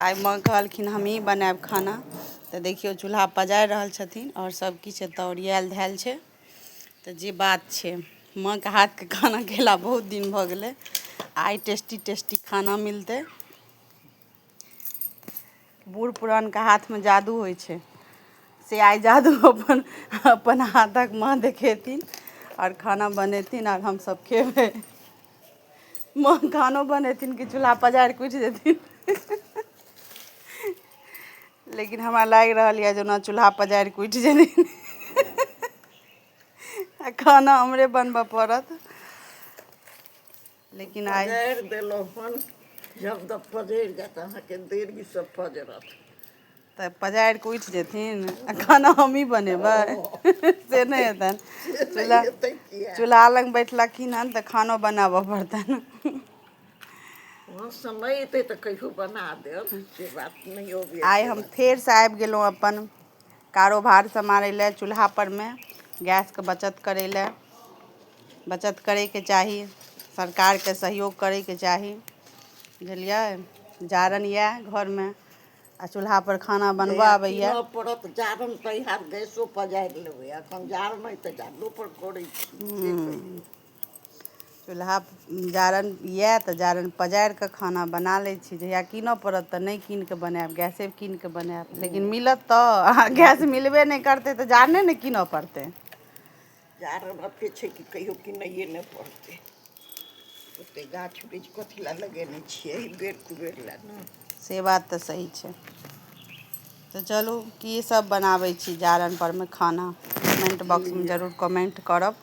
आइ माँ कहलखिन हमही बनायब खाना तऽ देखियौ चूल्हा पजारि रहल छथिन आओर सब किछु एतऽ ओरियाएल धएल छै तऽ जे बात छै माँके हाथके खाना खेला बहुत दिन भऽ गेलै आइ टेस्टी टेस्टी खाना मिलतै बूढ़ पुरानके हाथमे जादू होइ छै से आइ जादू अपन अपन हाथक माँ देखेथिन आओर खाना बनेथिन आओर हमसब खेबै माँ खानो बनेथिन कि चूल्हा पजारि कऽ उठि जेथिन लेकिन हमरा लागि रहल यए जेना चूल्हा पजारि कऽ उठि जेथिन आ खाना हमरे बनबय पड़त लेकिन आइ देलहुँ हन जब तक पजरि जायत अहाँके देरीसँ पजरत तऽ पजारि कऽ उठि जेथिन आ खाना हमही बनेबै से नहि हेतनि चूल्हा चूल्हा लग बैठलखिन हन तऽ खानो बनाबऽ पड़तनि समय एतै तऽ कहियो बना देब से बात नहि होबे आइ हम फेरसँ आबि गेलहुँ अपन कारोबार सम्हारै लए चूल्हापरमे गैसके बचत करै लए बचत करैके चाही सरकारके सहयोग करैके चाही बुझलियै जारनि यए घरमे आ चूल्हा पर खाना बनबऽ आबैए कीनऽ पड़त जारन तऽ इएह गैसो पजारि लेबै एखन जाड़ नहि तऽ जाड़ो पर करै छी की कहियै। चूल्हा जारन यए तऽ जारन पजारि कऽ खाना बना लै छी जहिया कीनऽ पड़त तऽ नहि कीन कऽ बनायब गैसे कीन कऽ बनायब लेकिन मिलत तऽ आ गैस मिलबे नहि करतै तऽ जारने ने कीनऽ पड़तै कारण एते छै कि कहियो किनैए नहि पड़तै ओते गाछ वृक्ष कथी लए लगेने छियै एहि बेर कुबेर लए ने से बात तऽ सही छै तऽ चलू की सब बनाबै छी जारन परमे खाना कमेंट बॉक्समे जरूर कमेंट करब